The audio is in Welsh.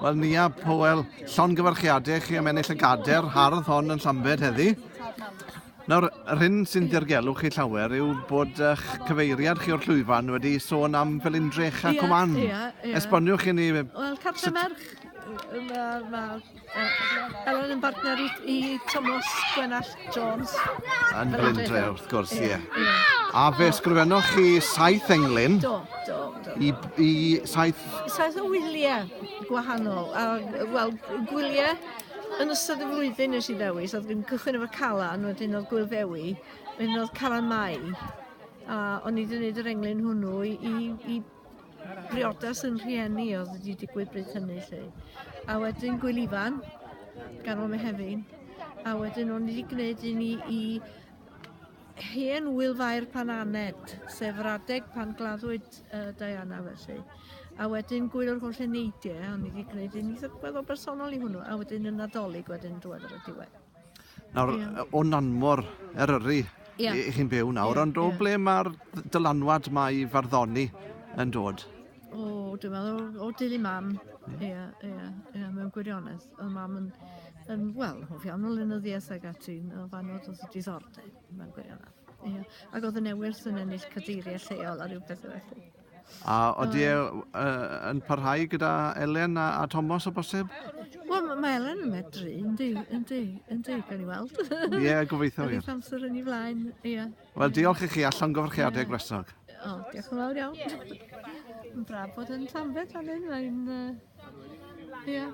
Wel, Nia Powell, llongyfarchiadau i chi am ennill y gader hardd hon yn Llambed heddi. Nawr, yr hyn sy'n dirgelu chi llawer yw bod eich cyfeiriad chi o'r llwyfan wedi sôn am Felindrych a Cwman. Ie, ie, ie. Esboniwch i ni... Wel, Cartre Merch, mae ma Elon yn bartner i, i Thomas Gwenall Jones. Yn Blindre, wrth gwrs, ie. Yeah. Yeah. A fe sgrifennoch chi saith englyn? Do, do, do. I, i saith... Saith o wyliau gwahanol. A, wel, gwyliau yn ystod y flwyddyn nes i ddewis, oedd yn cychwyn efo Calan, wedyn oedd Gwyl Ddewi, wedyn oedd Calan Mai, a o'n i wedi gwneud yr englyn hwnnw i, i, i briodas yn rhieni oedd wedi digwydd bryd hynny lle. A wedyn Gwyl Ifan, ganol Mehefin, a wedyn o'n i wedi gwneud un i, i hen wylfair pan aned, sef yr adeg pan gladdwyd uh, Diana felly. A wedyn Gwyl yr Holl Eneidiau, o'n i wedi gwneud un eitha gweddol bersonol i hwnnw, a wedyn y Nadolig wedyn diwedd ar y diwedd. Nawr, yeah. o Nanmor, Eryri, yeah. i chi'n byw nawr, yeah, ond o yeah. ble mae'r dylanwad mae i farddoni yn dod? O, oh, dwi'n meddwl, o, o dili mam, ie, yeah. ie, yeah, yeah, mewn gwirionedd. O mam yn, yn wel, hoff iawn o lenyddiaeth ag ati, o fan oedd oedd diddordeb mewn gwirionedd. Ie. Ac oedd y newydd yn ennill cadeiriau lleol a rhyw beth felly. A oeddi e yn parhau gyda Elen a, a Thomas o bosib? Wel, mae Elen yn medru, yndi, yndi, yndi, gan i weld. Ie, yeah, gobeithio. Yn eich amser yn ei flaen, ie. Yeah. Wel, diolch i chi a llongyfarchiadau yeah. gwresog. O, diolch yn fawr iawn. Yn braf bod yn Llanbed fan hyn, mae'n... Ie. Uh, yeah.